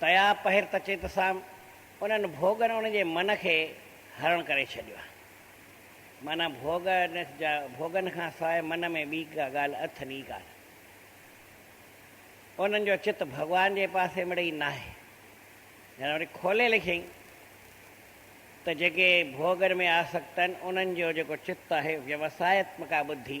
تيا پهر ته چت سان انهن ڀوڳن ان جي من کي هرڻ ڪري ڇڏيو آهي. معنيٰ ڀوڳ جا ڀوڳن کان سواء من ۾ ٻي ڪا ڳالهه اٿن ئي ڪانه. انهن جو چت ڀڳوان جي پاسي مڙي ئي ناهي. يعني وري کولي لکيائين ته جيڪي ڀوڳن ۾ آسڪت آهن انهن جو جيڪو چت آهي ويوسايتمڪا ٻڌي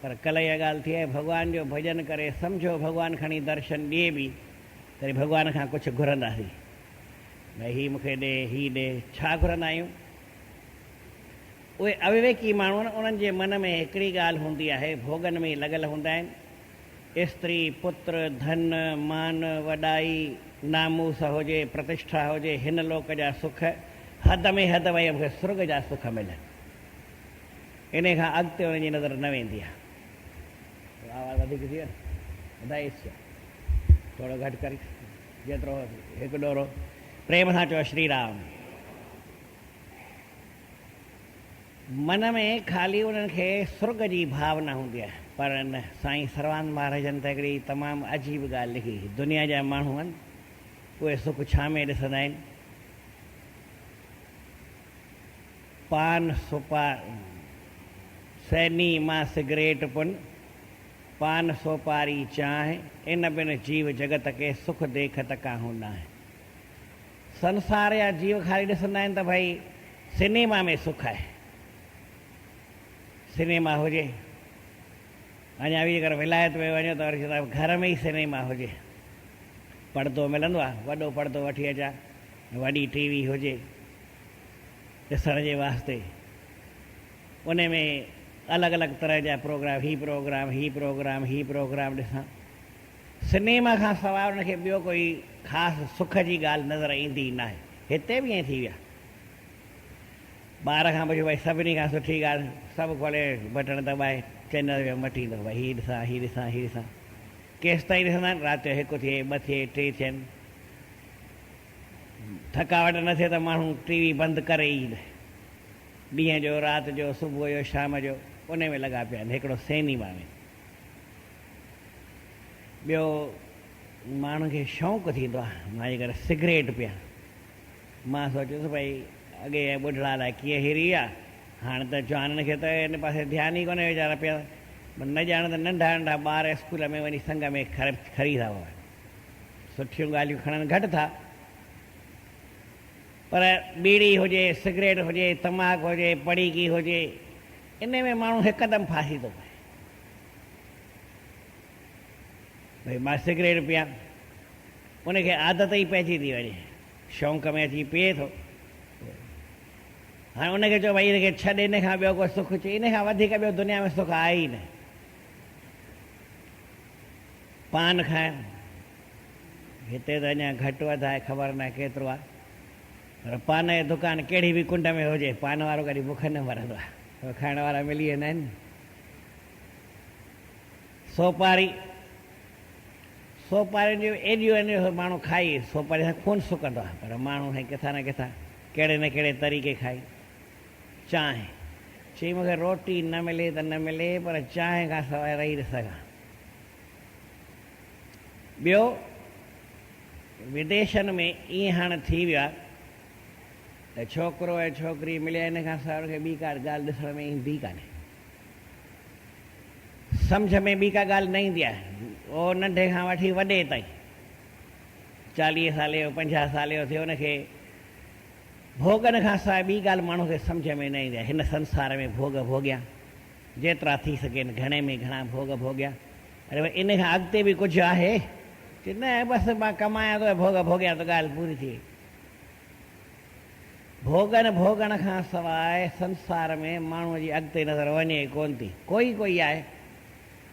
پر ڪلهه اها ڳالهه ٿي آهي ڀڳوان جو ڀڄن ڪري سمجهو ڀڳوان کڻي درشن ڏئي به تڏهن ڀڳوان کان ڪجهه گهرنداسين ڀئي هي مونکي ڏي هي ڏي ڇا گهرندا آهيون اهي اويويڪي ماڻهو آهن انهن جي من ۾ هڪڙي ڳالهه هوندي آهي ڀوڳن ۾ لڳل هوندا آهن استري پتر ڌن مان وڏائي ناموس هجي پرتشٺا هجي هن لوڪ جا سک حد ۾ حد وئي مونکي سرڳ جا سک ملن. انهيء کان اڳتي انهن جي نظر نه ويندي آهي. ٿورو آواز وڌيڪ ٿي ويو نه. ٻڌايس ڇا؟ ٿورو گهٽ ڪر جيترو هو هڪ ڏورو پريم سان چيو شري رام. من ۾ خالي انهن کي سرڳ جي ڀاونا هوندي آهي. پر ان سائين سروانند مهاراجن ته هڪڙي تمام عجيب ڳالهه لکي. دنيا جا ماڻهو آهن. اهي سک ڇا ۾ ڏسندا آهن. پان سوپا سيني مان سگريٽ پن، پان سوپاري چانهه، ان بن جيو جڳت کي سک ديکت ڪاهون ناهي. سنسار جا جيو خالي ڏسندا آهن ته ڀئي سينيما ۾ سک آهي. سينيما هجي، اڃا به جيڪر ولايت ۾ وڃو ته وري چوندا گهر ۾ ئي سينيما هجي، پڙدو ملندو آهي، وڏو پڙدو وٺي اچان، وڏي ٽي وي هجي ڏسڻ جي واسطي ان ۾ الڳ الڳ طرح جا پروگرام هي پروگرام هي پروگرام هي پروگرام ڏسان سنيما کان سواء ان کي ٻيو ڪوئي خاص سک جي ڳالهه نظر ايندي ئي ناهي هتي به ائين ٿي ويا ٻار کان پڇو ڀاء سڀني کان سٺي ڳالهه سڀ کولي بٽڻ دٻائي چينل ويو مٽيندو ڀاء هي ڏسان هي ڏسان هي ڏسان ڪيستائين ڏسندا آهن رات جو هڪ ٿئي ٻه ٿئي ٽي ٿين ٿڪاوٽ نه ٿئي ته ماڻهو ٽي وي بند ڪري ئي نه. ڏينهن جو، رات جو، صبح جو، شام جو انهي ۾ لڳا پيا آهن. هڪڙو سينيما ۾. ٻيو ماڻهن کي شوق ٿيندو آهي. مان جيڪر سگريٽ پيان. مان سوچيو ته ڀئي اڳي ٻڍڙا الائي ڪيئن هري ويا. هاڻ ته جوانن کي ته ان پاسي ڌيان ئي ڪونهي ويچارا پيا نه ڄاڻ ته ننڍا ننڍا ٻار اسڪول ۾ وڃي سنگ ۾ کري ٿا پون. سٺيون ڳالهيون کڻن گهٽ ٿا پر ٻيڙي هجي، سگريٽ هجي، تماڪ هجي، پڙيڪي هجي انهي ۾ ماڻهو هڪدم ڦاسي ٿو پئي. ڀئي مان سگريٽ پيان ان کي عادت ئي پئجي ٿي وڃي شونق ۾ اچي پيئي ٿو هاڻي ان کي چئو ڀئي ان کي ڇڏ ان کان ٻيو ڪو سک چئي ان کان وڌيڪ ٻيو دنيا ۾ سک آهي ئي نه. پان کائڻ هتي ته اڃا گهٽ وڌ آهي خبر ناهي ڪيترو آهي پر پان جو دڪان ڪهڙي به ڪنڊ ۾ هجي پان وارو ڪڏهن بک نه مرندو آهي کائڻ وارا ملي ويندا آهن سوپاري سوپارين جون ايڏيون ايڏيون ماڻهو کائي سوپاري سان خون سڪندو آهي پر ماڻهو سائين ڪٿان نه ڪٿان ڪهڙي نه ڪهڙي طريقي کائي چانهه. چي مون کي روٽي نه ملي ته نه ملي پر چانهه کان سواء رهي نه سگهان. ٻيو وديشن ۾ ائين هاڻ ٿي ويو آهي ته ڇوڪرو ۽ ڇوڪري مليا ان کان سواء ان کي ٻي ڪا ڳالهه ڏسڻ ۾ ايندي ڪانهي. سمجهه ۾ ٻي ڪا ڳالهه نه ايندي آهي. اهو ننڍي کان وٺي وڏي تائين چاليهه سالي جو پنجاهه سالي جو ٿيو ان کي ڀوڳن کان سواء ٻي ڳالهه ماڻهو کي سمجهه ۾ نه ايندي آهي. هن سنسار ۾ ڀوڳ ڀوڳيا، جيترا ٿي سگهين، گهڻي ۾ گهڻا ڀوڳ ڀوڳيا. اڙي ڀاء ان کان اڳتي به ڪجهه آهي؟ چي نه بس مان ڪمايان ٿو ۽ ڀوڳ ڀوڳيان ته ڳالهه پوري ٿي وئي. ڀوڳن ڀوڳڻ کان سواء سنسار ۾ ماڻهوء جي اڳتي نظر وڃي ئي ڪونه ٿي. ڪوئي ڪوئي آهي.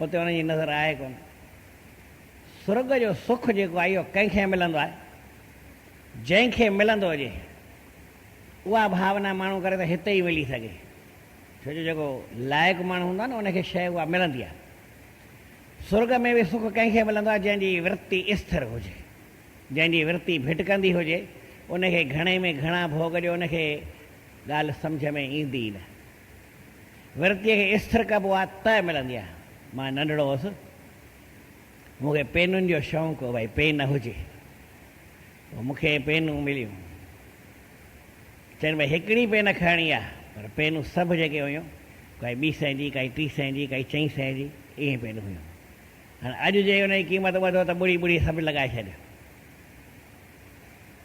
اتي ان جي نظر آهي ڪونه. سرڳ جو سک جيڪو آهي اهو ڪنهن کي ملندو آهي؟ جنهن کي ملندو هجي اها ڀاونا ماڻهو ڪري ته هتي ئي ملي سگهي. ڇو جو جيڪو لائق ماڻهو هوندو آهي نه ان کي شيء اها ملندي آهي. سرڳ ۾ به سک ڪنهن کي ملندو آهي جنهن جي ورتي اسٿر هجي. جنهن جي ورتي ڀٽڪندي هجي ان کي گهڻي ۾ گهڻا ڀوڳ ڏيو ان کي ڳالهه سمجهه ۾ ايندي ئي نه. ورتيء کي استر ڪبو آ ته ملندي آ. مان ننڍڙو هوس. مون کي پينن جو شوق هو ڀائي پين هجي. پوء مون کي پينون مليون. چين ڀائي هڪڙي پين کڻڻي آ پر پينون سڀ جيڪي هيون ڪائي ٻي سئين جي ڪائي ٽي سئين جي ڪائي چئين سئين جي اهي پينون هيون. هاڻ اڄ جي ان جي قيمت ٻڌو ته ٻڙي ٻڙي سڀ لڳائي ڇڏ.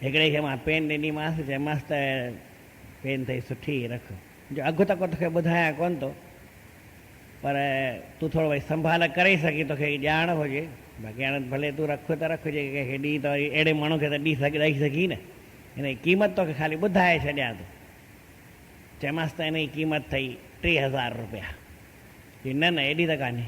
هڪڙي کي مان پين ڏني مانس چيمانس ته پين ٿئي سٺي رک. جو اگهه ته ڪو توکي ٻڌايان ڪونه ٿو پر تون ٿورو ڀلي سنڀال ڪري سگهين ٿي توکي ڄاڻ هجي باقي هاڻي ڀلي تون رک ته رک جي ڪنهن کي ڏئين ته وري اهڙي ماڻهو کي ته ڏئي سگهين نه هن جي قيمت توکي خالي ٻڌائي ڇڏيان ٿو چيمانس ته هن جي قيمت اٿئي ٽي هزار روپيا چي نه نه ايڏي ته ڪانهي.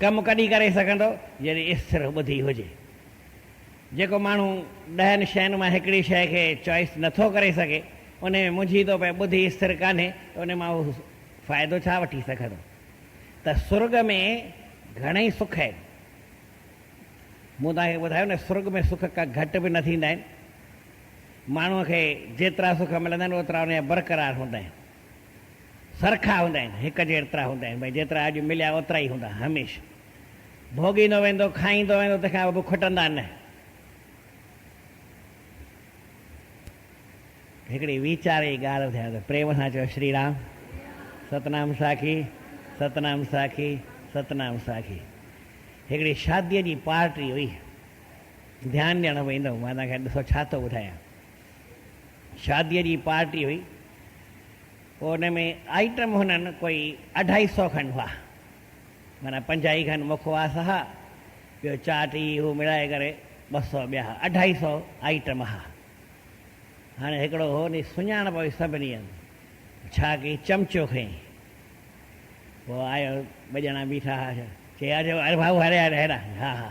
ڪم ڪڏهن ڪري سگهندو جڏهن استر ٻڌي هجي. جيڪو ماڻهو ڏهن شين مان هڪڙي شيء کي چوائيس نٿو ڪري سگهي انهي ۾ منجهي ٿو پئي ٻڌي استر ڪانهي ته انهي مان هو فائدو ڇا وٺي سگهندو ته سرڳ ۾ گهڻئي سک آهن مون توهان کي ٻڌايو نه سرڳ ۾ سک ڪا گهٽ به نه ٿيندا آهن ماڻهو کي جيترا سک ملندا آهن اوترا انهي جا برقرار هوندا آهن. سرکا هوندا آهن، هڪ جهڙترا هوندا آهن، ڀاء جيترا اڄ مليا اوترا ئي هوندا، هميشه ڀوڳيندو ويندو، کائيندو ويندو، تنهن کان اڳ کٽندا نه. هڪڙي ويچار جي ڳالهه ٻڌايان ته پريم سان چئو شري رام، ستنام ساکي، ستنام ساکي، ستنام ساکي. هڪڙي شاديء جي پارٽي هئي، ڌيان ڏيڻ ويندو، مان توهان کي ڏسو ڇا ٿو ٻڌايان. شاديء جي پارٽي هئي، پوء ان ۾ آئٽم هنن ڪوئي اڍائي سئو کن هئا، معنيٰ پنجاهي کن مکواس هئا، ٻيو چاٽ هي هو مڙائي ڪري ٻه سئو ٻيا هئا، اڍائي سئو آئٽم هئا. هاڻي هڪڙو هو ني سڃاڻپ هئي سڀني هنڌ، ڇا ڪيئي چمچو کنئي، پوء آيو ٻه ڄڻا بيٺا هئا، چيئي اچ اري ڀائو هيڏانهن، هيڏانهن، ها ها.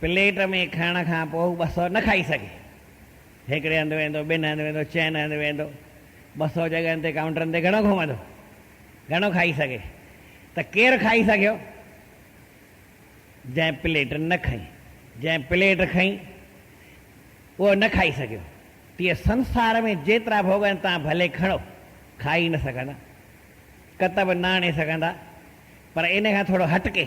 پليٽ ۾ کائڻ کان پوء هو ٻه سئو نه کائي سگهي. هڪڙي هنڌ ويندو، ٻن هنڌ ويندو، چئن هنڌ ويندو. ٻه سئو جڳهن تي ڪائونٽرن تي گهڻو گهمندو. گهڻو کائي سگهي. ته ڪير کائي سگهيو؟ جنهن پليٽ نه کنئي. جنهن پليٽ کنئي، اهو نه کائي سگهيو. تيئن سنسار ۾ جيترا ڀوڳ آهن، توهان ڀلي کڻو، کائي نه سگهندا. ڪتب نه آڻي سگهندا. پر ان کان ٿورو هٽڪي،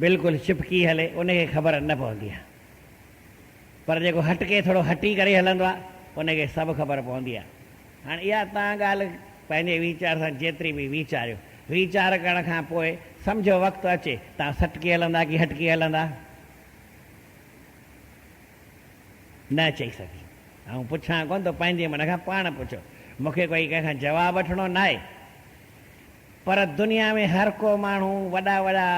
بلڪل چپ ڪي هلي ان کي خبر نه پوندي آ پر جيڪو هٽ ڪي ٿورو هٽي ڪري هلندو آ ان کي سڀ خبر پوندي آ هاڻي اها تان ڳالهه پنهنجي ويچار سان جيتري به ويچاريو ويچار ڪرڻ کان پوء سمجهو وقت اچي تان سٽ ڪي هلندا ڪي هٽ ڪي هلندا نه چئي سگهي آئون پڇان ڪون تو پنهنجي من کان پاڻ پڇو مونکي ڪوئي ڪنهن کان جواب وٺڻو ناهي. پر دنيا ۾ هر ڪو ماڻهو وڏا وڏا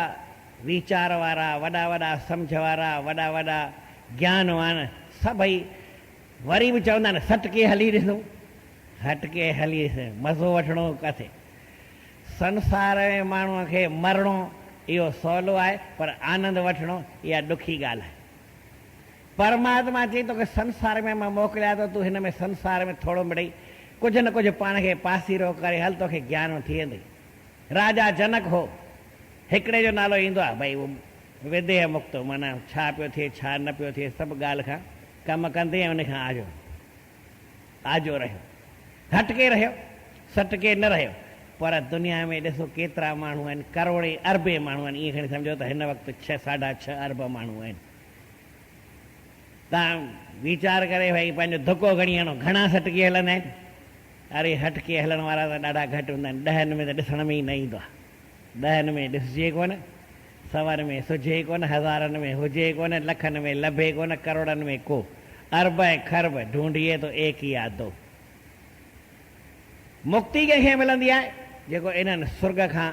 ويچار وارا، وڏا وڏا سمجهه وارا، وڏا وڏا گيانوان سڀئي وري به چوندا آهن سٽڪي هلي ڏسون، هٽڪي هلي ڏسون، مزو وٺڻو ڪٿي؟ سنسار ۾ ماڻهو کي مرڻو اهو سولو آهي پر آنند وٺڻو اها ڏکي ڳالهه آهي. پرماتما چيئي توکي سنسار ۾ مان موڪليان ٿو تون هن ۾ سنسار ۾ ٿورو مڙئي ڪجهه نه ڪجهه پاڻ کي پاسيرو ڪري هل توکي گيان ۾ ٿي ويندئي. راجا جنڪ هو. هڪڙي جو نالو ايندو آهي ڀئي اهو وديهه مڪتو معنيٰ ڇا پيو ٿئي ڇا نه پيو ٿئي سڀ ڳالهه کان ڪم ڪندي ۽ ان کان آجو آجو رهيو هٽڪي رهيو سٽڪي نه رهيو پر دنيا ۾ ڏسو ڪيترا ماڻهو آهن ڪروڙين اربين ماڻهو آهن ائين کڻي سمجهو ته هن وقت ڇهه ساڍا ڇهه ارب ماڻهو آهن تان ويچار ڪري ڀائي پنهنجو ڌڪو کڻي هڻو، گهڻا سٽڪي هلندا آهن. اڙي هٽڪي هلڻ وارا ته ڏاڍا گهٽ هوندا آهن، ڏهن ۾ ته ڏسڻ ۾ ئي نه ايندو آهي. ڏهن ۾ ڏسجي ڪونه، سون ۾ سجهي ڪونه، هزارن ۾ هجي ڪونه، لکن ۾ لڀي ڪونه، ڪروڙن ۾ ڪو ارب ۽ خرب ڍونڍيي ٿو ايڪ هي آدو. مڪتي ڪنهن کي ملندي آهي جيڪو انهن سرڳ کان.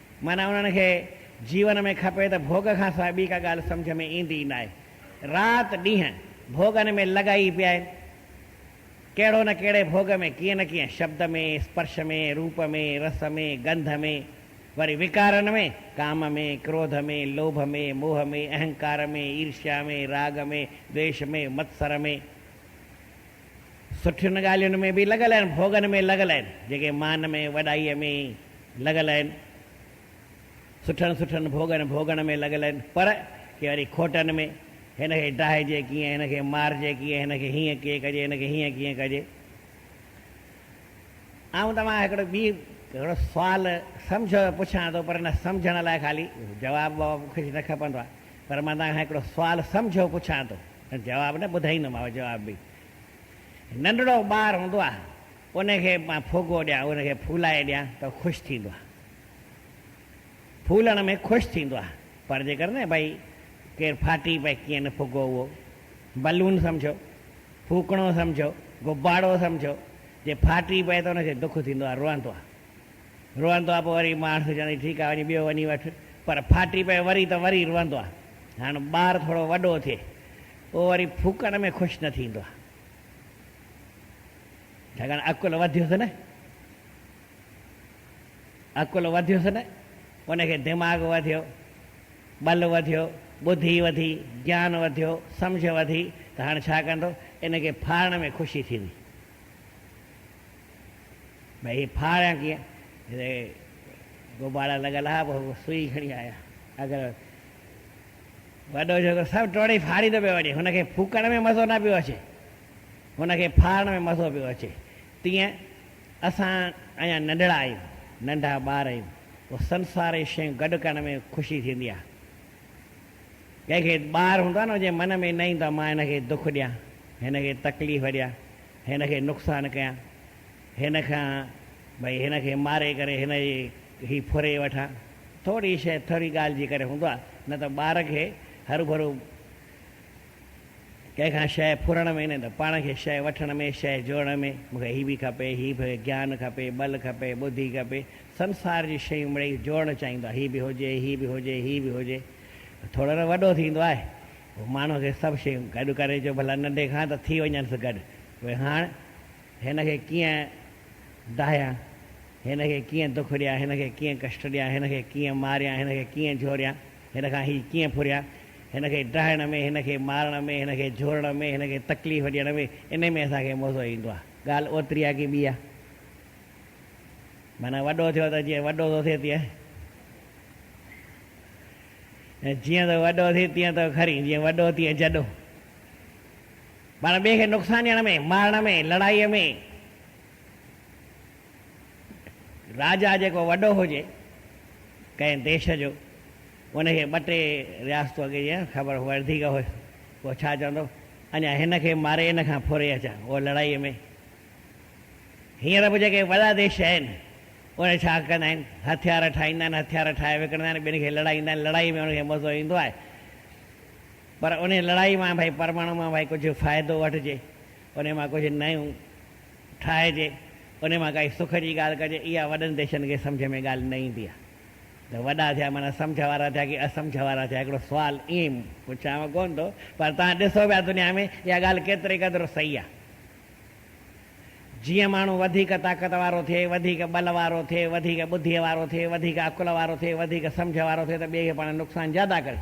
معنيٰ انهن کي جيون ۾ کپي ته ڀوڳ کان سواء ٻي ڪا ڳالهه سمجهه ۾ ايندي ئي ناهي. رات ڏينهن ڀوڳن ۾ لڳا ئي پيا آهن. ڪهڙو نه ڪهڙي ڀوڳ ۾ ڪيئن نه ڪيئن شبد ۾، اسپرش ۾، روپ ۾، رس ۾، گنڌ ۾، وري وڪارن ۾، ڪام ۾، ڪروڌ ۾، لوڀ ۾، موهه ۾، اهنڪار ۾، عيرشيا ۾، راڳ ۾، دويش ۾، متسر ۾. سٺين ڳالهين ۾ به لڳل آهن، ڀوڳن ۾ لڳل آهن، جيڪي مان ۾ وڏائيء ۾ لڳل آهن، سٺن سٺن ڀوڳن ڀوڳڻ ۾ لڳل آهن، پر ڪي وري کوٽن ۾، هن کي ڊاهجي ڪيئن، هن کي مارجي ڪيئن، هن کي هيئن ڪيئن ڪجي، هن کي هيئن ڪيئن ڪجي. آئون توهان کان هڪڙو ٻي هڪڙو سوال سمجهو ته پڇان ٿو، پر ان سمجهڻ لاء خالي جواب وواب ڪجهه نه کپندو آهي. پر مان توهان کان هڪڙو سوال سمجهيو پڇان ٿو ۽ جواب نه ٻڌائيندوماء جواب به ننڍڙو ٻار هوندو آهي ان کي مان ڦوڳو ڏيان ان کي ڦولائي ڏيان ته خوش ٿيندو آهي ڦولڻ ۾ خوش ٿيندو آهي پر جيڪر نه ڀئي ڪير ڦاٽي پئي ڪيئن نه ڦوڳو اهو بلون سمجهو ڦوڪڻو سمجهو غبارو سمجهو جي ڦاٽي پئي ته ان کي دک ٿيندو آهي روئندو آهي روئندو آ پوء وري ماڻس چوندو آهي ٺيڪ آ وڃي ٻيو وڃي وٺ پر ڦاٽي پئي وري ته وري روئندو آ هاڻ ٻار ٿورو وڏو ٿئي پوء وري ڦوڪڻ ۾ خوش نه ٿيندو آ ڇاڪاڻ عقل وڌيس نه عقل وڌيس نه ان کي دماغ وڌيو ٻل وڌيو ٻڌي وڌي گيان وڌيو سمجھ وڌي ته هاڻ ڇا ڪندو ان کي ڦاڙڻ ۾ خوشي ٿيندي ڀاء هي ڦاڙيان ڪيئن؟ هتي غبارا لڳل آهي، پوء سوئي کڻي آيا. اگر وڏو جهوڪو سڀ ٽوڙي ڦاڙيندو پيو وڃي. هن کي ڦوڪڻ ۾ مزو نه پيو اچي. هن کي ڦاڙڻ ۾ مزو پيو اچي. تيئن اسان اڃا ننڍڙا آهيون، ننڍا ٻار آهيون. پوء سنساري شيون گڏ ڪرڻ ۾ خوشي ٿيندي آهي. ڪنهن کي ٻار هوندو آهي نه هجي من ۾ نه ايندو آهي مان هن کي دک ڏيان هن کي تڪليف ڏيان هن کي نقصان ڪيان هن کان ڀئي هن کي ماري ڪري هن جي هي ڦري وٺان ٿوري شي ٿوري ڳالهه جي ڪري هوندو آهي نه ته ٻار کي هرو ڀرو ڪنهن کان شيء ڦرڻ ۾ نه ته پاڻ کي شيء وٺڻ ۾ شيء جوڙڻ ۾، مون کي هي به کپي، هي به، گيان کپي، ٻل کپي، ٻڌي کپي، سنسار جون شيون مڙئي جوڙڻ چاهيندو آهي، هي به هجي، هي به هجي، هي به هجي، ٿورو نه وڏو ٿيندو آهي، پوء ماڻهوء کي سڀ شيون گڏ ڪري جو ڀلا ننڍي کان ته ٿي وڃنس گڏ، پوء هاڻ هن کي ڪيئن ڊاهيان، هن کي ڪيئن دک ڏيان، هن کي ڪيئن ڪشٽ ڏيان، هن کي ڪيئن ماريان، هن کي ڪيئن جهوريان. هن کان هي ڪيئن ڦريا؟ هن کي ڊاهڻ ۾، هن کي مارڻ ۾، هن کي جهورڻ ۾، هن کي تڪليف ڏيڻ ۾، انهي ۾ اسان کي مزو ايندو آ. ڳالهه اوتري آ ڪي ٻي آ؟ معنيٰ وڏو ٿيو ته جيئن وڏو ٿو ٿئي تيئن ۽ جيئن ٿو وڏو ٿئي تيئن ٿو کرين، جيئن وڏو تيئن جڏو. پاڻ ٻئي کي نقصان ڏيڻ ۾، مارڻ ۾، لڙائيء ۾، راجا جيڪو وڏو هجي ڪنهن ديش جو ان کي ٻه ٽي رياستون اڳي جيان خبر ورديڪ هئس پوء ڇا چوندو اڃا هن کي ماري ان کان ڦري اچان اهو لڙائي ۾ هينئر به جيڪي وڏا ديش آهن اهي ڇا ڪندا آهن هٿيار ٺاهيندا آهن هٿيار ٺاهي وڪڻندا آهن ٻين کي لڙائيندا آهن لڙائي ۾ ان کي مزو ايندو آهي پر ان لڙائي مان ڀائي پرماڻو مان ڀائي ڪجهه فائدو وٺجي ان مان ڪجهه نيون ٺاهجي، انهي مان ڪائي سک جي ڳالهه ڪجي، اها وڏن ديشن کي سمجهه ۾ ڳالهه نه ايندي آهي ته وڏا ٿيا معنيٰ سمجهه وارا ٿيا ڪي اسمجهه وارا ٿيا، هڪڙو سوال ائين پڇيانء ڪونه ٿو پر توهان ڏسو پيا دنيا ۾ اها ڳالهه ڪيتري قدر صحيح آهي. جيئن ماڻهو وڌيڪ طاقت وارو ٿئي، وڌيڪ ٻل وارو ٿئي، وڌيڪ ٻڌيء وارو ٿئي، وڌيڪ عقل وارو ٿئي، وڌيڪ سمجهه وارو ٿئي ته ٻئي کي پاڻ نقصان زياده ڪري.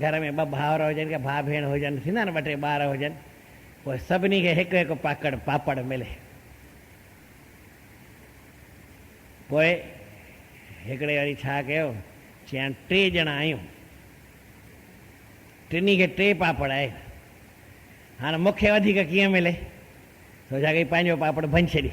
گهر ۾ ٻه ڀائر هجن يا ڀاء ڀيڻ هجن ٿيندا آهن ٻه ٽي ٻار هجن پوء سڀني کي هڪ هڪ پاڪڙ پاپڙ ملي پوء هڪڙي وري ڇا ڪيو چيان ٽي ڄڻا آهيون ٽنهي کي ٽي پاپڙ آهي هاڻ مونکي وڌيڪ ڪيئن ملي سوچا ڪي پنهنجو پاپڙ ڀڃي ڇڏي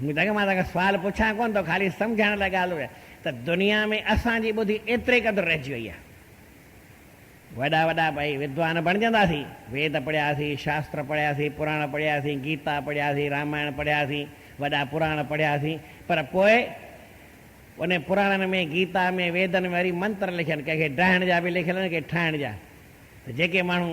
مون چيو ته مان توکي سوال پڇان ڪونه ٿو، خالي سمجهائڻ لاء ڳالهه اهو آهي ته دنيا ۾ اسان جي ٻڌي ايتري قدر رهجي وئي آهي. وڏا وڏا ڀائي ودوان بڻجنداسين، ويد پڙهياسين، شاستر پڙهياسين، پراڻ پڙهياسين، گيتا پڙهياسين، رامائڻ پڙهياسين، وڏا پراڻ پڙهياسين پر پوء انهن پراڻن ۾، گيتا ۾، ويدن ۾ وري منتر لکيا آهن، ڪنهن کي ڊاهڻ جا به لکيل آهن، ڪنهن کي ٺاهڻ جا ته جيڪي ماڻهو.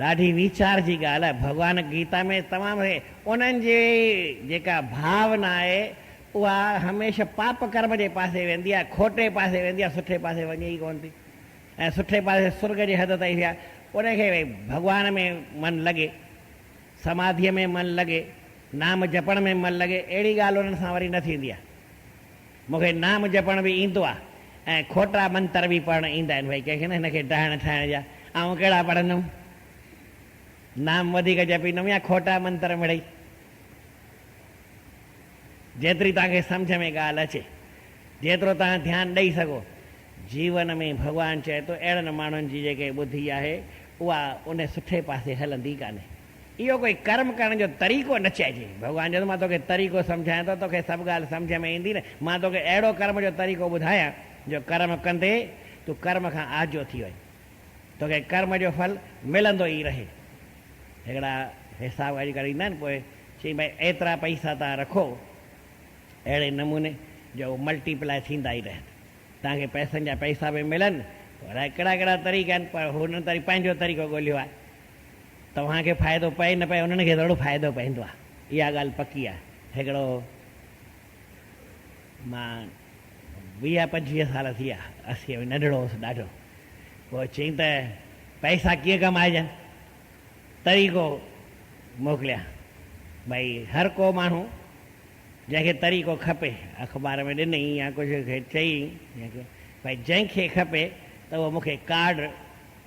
ڏاڍي ويچار جي ڳالهه آهي ڀڳوان گيتا ۾ تمام هي انهن جي جيڪا ڀاونا آهي اها هميشه پاپ ڪرم جي پاسي ويندي آهي کوٽي پاسي ويندي آهي سٺي پاسي وڃي ئي ڪونه ٿي ۽ سٺي پاسي سرڳ جي حد تائين ويا ان کي ڀئي ڀڳوان ۾ من لڳي سماڌيء ۾ من لڳي نام جپڻ ۾ من لڳي اهڙي ڳالهه انهن سان وري نه ٿيندي آهي. مون کي نام جپڻ به ايندو آ ۽ کوٽا منتر به پڙهڻ ايندا آهن ڀئي ڪنهن کي نه هن کي ڊاهڻ ٺاهڻ جا آئون ڪهڙا پڙهندم نام وڌيڪ جپيندم يا کوٽا منتر مڙئي جيتري توهان کي سمجهه ۾ ڳالهه اچي جيترو توهان ڌيان ڏئي سگهو جيون ۾ ڀڳوان چئي ٿو اهڙن ماڻهن جي جيڪي ٻڌي آهي اها ان سٺي پاسي هلندي ڪانهي. اهو ڪوئي ڪرم ڪرڻ جو طريقو نه چئجي. ڀڳوان چيس، مان توکي طريقو سمجهايان ٿو، توکي سڀ ڳالهه سمجهه ۾ ايندي نه. مان توکي اهڙو ڪرم جو طريقو ٻڌايان، جو ڪرم ڪندي تون ڪرم کان آجو ٿي وڃ. توکي ڪرم جو ڦل ملندو ئي رهي. هڪڙا حساب ڳاڙهي ڪري ايندا آهن، پوء چئين ڀاء ايترا پئسا توهان رکو اهڙي نموني جو هو ملٽي پلائي ٿيندا ئي رهن. توهان کي پئسن جا پئسا به ملن. الاء ڪهڙا ڪهڙا طريقا آهن، پر هن پنهنجو طريقو ڳولهيو آهي. توهان کي فائدو پئي نه پئي انهن کي ضرور فائدو پوندو آهي اها ڳالهه پڪي آهي هڪڙو مان ويهه پنجويهه سال ٿي ويا اسي ۾ ننڍڙو هوس ڏاڍو پوء چيائين ته پئسا ڪيئن ڪمائجن طريقو موڪليان ڀئي هر ڪو ماڻهو جنهن کي طريقو کپي اخبار ۾ ڏنئي يا ڪجهه کي چئي ڀئي جنهن کي کپي ته اهو مون کي ڪارڊ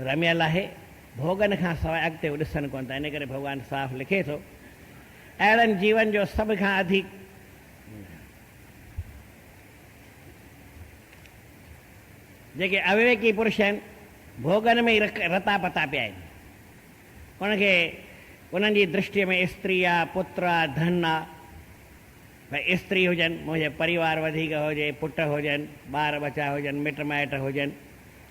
رميل آهي، ڀوڳن کان سواء اڳتي هو ڏسن ڪونه ٿا، انهي ڪري ڀڳوان صاف لکي ٿو، اهڙن جيون جو سڀ کان اڌيڪ جيڪي اويويڪي پرش آهن، ڀوڳن ۾ ئي رتا پتا پيا آهن، انهن کي انهن جي درشٽيء ۾ استري آ، پتر آ، ڌن آ، ڀئي استري هجن، منهنجي پريوار وڌيڪ هجي، پٽ هجن، ٻار ٻچا هجن، مٽ مائٽ هجن،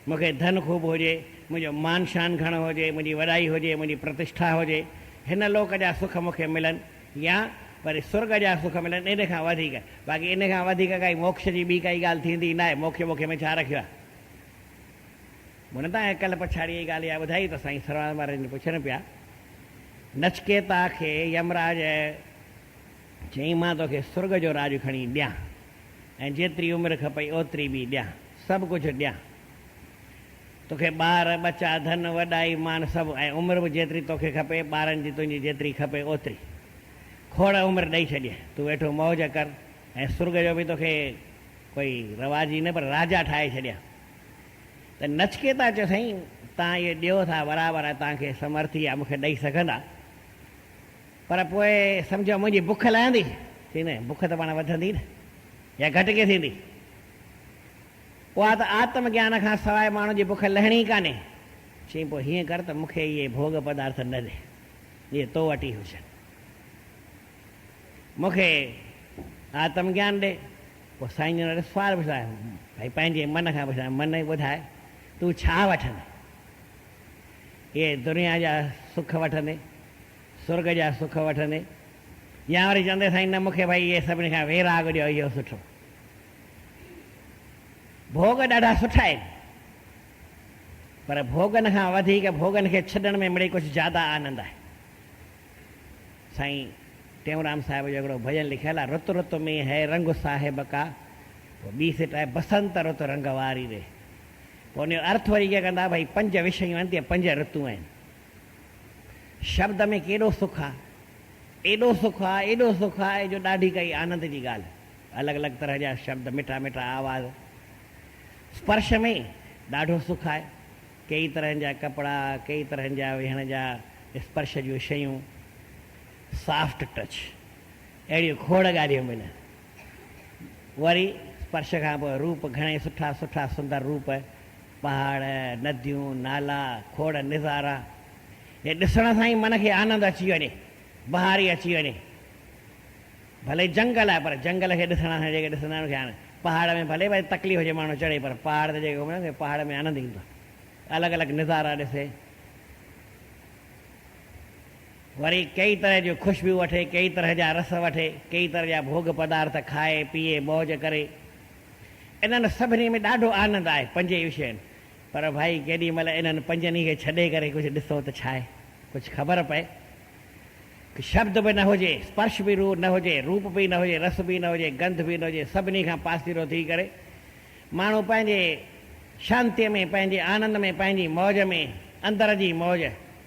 مون کي ڌن خوب هجي، منهنجو مان شان گهڻو هجي، منهنجي وڏائي هجي، منهنجي پرتشٺا هجي، هن لوڪ جا سک مون کي ملن يا وري سرڳ جا سک ملن ان کان وڌيڪ، باقي ان کان وڌيڪ ڪائي موڪش جي ٻي ڪائي ڳالهه ٿيندي ناهي، موکي ٻوکي ۾ ڇا رکيو آهي. مون تان اهي ڪلهه پڇاڙيء جي ڳالهه اها ٻڌائي ته سائين سرواز مهاراج جي پڇن پيا، نچڪيتا کي يمراج چيائين مان توکي سرڳ جو راڄ کڻي ڏيان. ۽ جيتري عمر کپئي اوتري به ڏيان، سڀ ڪجهه ڏيان. توکي ٻار، ٻچا، ڌن، وڏائي، مان سڀ ۽ عمر به جيتري توکي کپي، ٻارن جي تنهنجي جيتري کپي اوتري. کوڙ عمر ڏئي ڇڏيين. تون ويٺو موج ڪر ۽ سرڳ جو به توکي ڪوئي رواجي نه پر راجا ٺاهي ڇڏيان. ته نچڪيتا چيو سائين، تان اهي ڏيو ٿا برابر ۽ تان کي سمرٿي آ مون کي ڏئي سگهندا. پر پوء سمجهو منهنجي بک لهندي ٿي نه، بک ته پاڻ وڌندي نه يا گهٽ ڪئين ٿيندي، اها ته آتم گيان کان سواء ماڻهو جي بک لهڻي ئي ڪانهي. چيائين پوء هيئن ڪر ته مون کي اهي ڀوڳ پدارٿ نه ڏي، جي تو وٽ ئي هجن. مون کي آتم گيان ڏي. پوء سائين جن وٽ سوال پڇيو آهي، ڀائي پنهنجي من کان پڇيو آهي، من اي ٻڌاء تون ڇا وٺندين؟ اهي دنيا جا سک وٺندين؟ سرڳ جا سک وٺندي يا وري چوندي سائين نه مونکي ڀائي اهي سڀني کان ويراڳ ڏيو اهو سٺو ڀوڳ ڏاڍا سٺا آهن پر ڀوڳن کان وڌيڪ ڀوڳن کي ڇڏڻ ۾ مڙئي ڪجهه زياده آنند آهي سائين ٽيئونرام صاحب جو هڪڙو ڀڄن لکيل آهي رت رت ۾ هي رنگ صاحب ڪا پوء ٻي سٽ آهي بسنت رت رنگ واري ري پوء ان جو ارٿ وري ڪيئن ڪندا ڀئي پنج وشيون آهن تي پنج رتون آهن شبد ۾ ڪيڏو سک آ. ايڏو سک آ، ايڏو سک آ جو ڏاڍي ڪائي آنند جي ڳالهه. الڳ الڳ طرح جا شبد، مٺا مٺا آواز. سپرش ۾ ڏاڍو سک آهي. ڪيئي طرحن جا ڪپڙا، ڪيئي طرحن جا ويهڻ جا سپرش جون شيون، Soft Touch، اهڙيون کوڙ ڳالهيون به نه. وري سپرش کان پوء روپ گهڻي سٺا سٺا سندر روپ، پهاڙ، نديون، نالا، کوڙ نظارا جي ڏسڻ سان ئي من کي آنند اچي وڃي، بهاري اچي وڃي. ڀلي جنگل آهي پر جنگل کي ڏسڻ سان جيڪي ڏسندا آهن ان کي آنند، پهاڙ ۾ ڀلي ڀائي تڪليف هجي ماڻهو چڙهي پر پهاڙ تي جيڪي گهمڻ کي پهاڙ ۾ آنند ايندو آهي. الڳ الڳ نظارا ڏسي. وري ڪيئي طرح جون خوشبوء وٺي، ڪيئي طرح جا رس وٺي، ڪيئي طرح جا ڀوڳ پدارٿ کائي، پيئي، موج ڪري. انهن سڀني ۾ ڏاڍو آنند آهي، پنجئي وشين. پر ڀائي ڪيڏي مهل انهن پنجن ئي کي ڇڏي ڪري ڪجهه ڏسون ته ڇاهي ڪجهه خبر پئي. ڪي شبد به نه هجي، سپرش به روح نه هجي، روپ به نه هجي، رس به نه هجي، گنڌ به نه هجي، سڀني کان پاسيرو ٿي ڪري ماڻهو پنهنجي شانتيء ۾، پنهنجي آنند ۾، پنهنجي موج ۾، اندر جي موج،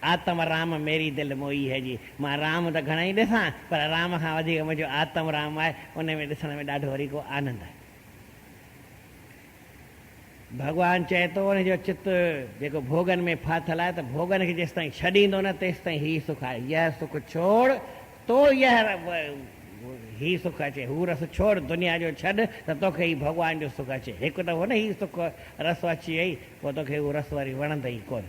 آتم رام ميري دل موئي هي جي مان رام ته گهڻائي ڏسان پر رام کان وڌيڪ منهنجو آتم رام آهي ان ۾ ڏسڻ ۾ ڏاڍو وري ڪو آنند آهي. ڀڳوان چئي ٿو ان جو چت جيڪو ڀوڳن ۾ ڦاٿل آهي ته ڀوڳن کي جيستائين ڇڏيندو نه تيستائين هي سک آهي يهه سک ڇوڙ تو يهه هي سک اچي هو رس ڇوڙ دنيا جو ڇڏ ته توکي هي ڀڳوان جو سک اچي هڪ دفعو نه هي سک رس اچي وئي پوء توکي هو رس وري وڻندئي ڪونه.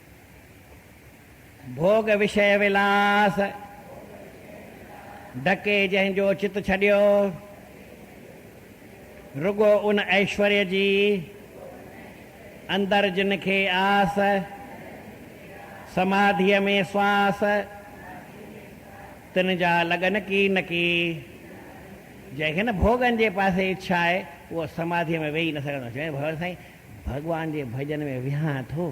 ڀوڳ وشيه ولاس ڍڪي جنهن جو چت ڇڏيو، رڳو ان ايشوريه جي اندر جن کي آس، سماڌيء ۾ سواس، تن جا لڳ نڪي نڪي. جنهن کي نه ڀوڳن جي پاسي اڇا آهي، اهو سماڌيء ۾ ويهي نه سگهندو. چوين ڀوڳ سائين ڀڳوان جي ڀڄن ۾ ويهان ٿو.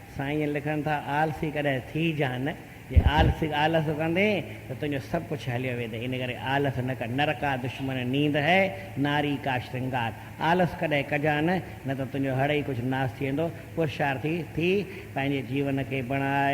سائين لکن ٿا آلسي ڪڏهن ٿي جا نه جي آلسي آلس ڪندين ته تنهنجو سڀ ڪڇ هليو ويندي ان ڪري آلس نه ڪر نر ڪا دشمن نيند هي ناري ڪا شرنگار آلس ڪڏهن ڪجا نه نه ته تنهنجو هڙئي ڪڇ ناس ٿي ويندو پرشارٿي ٿي پنهنجي جيون کي بڻاء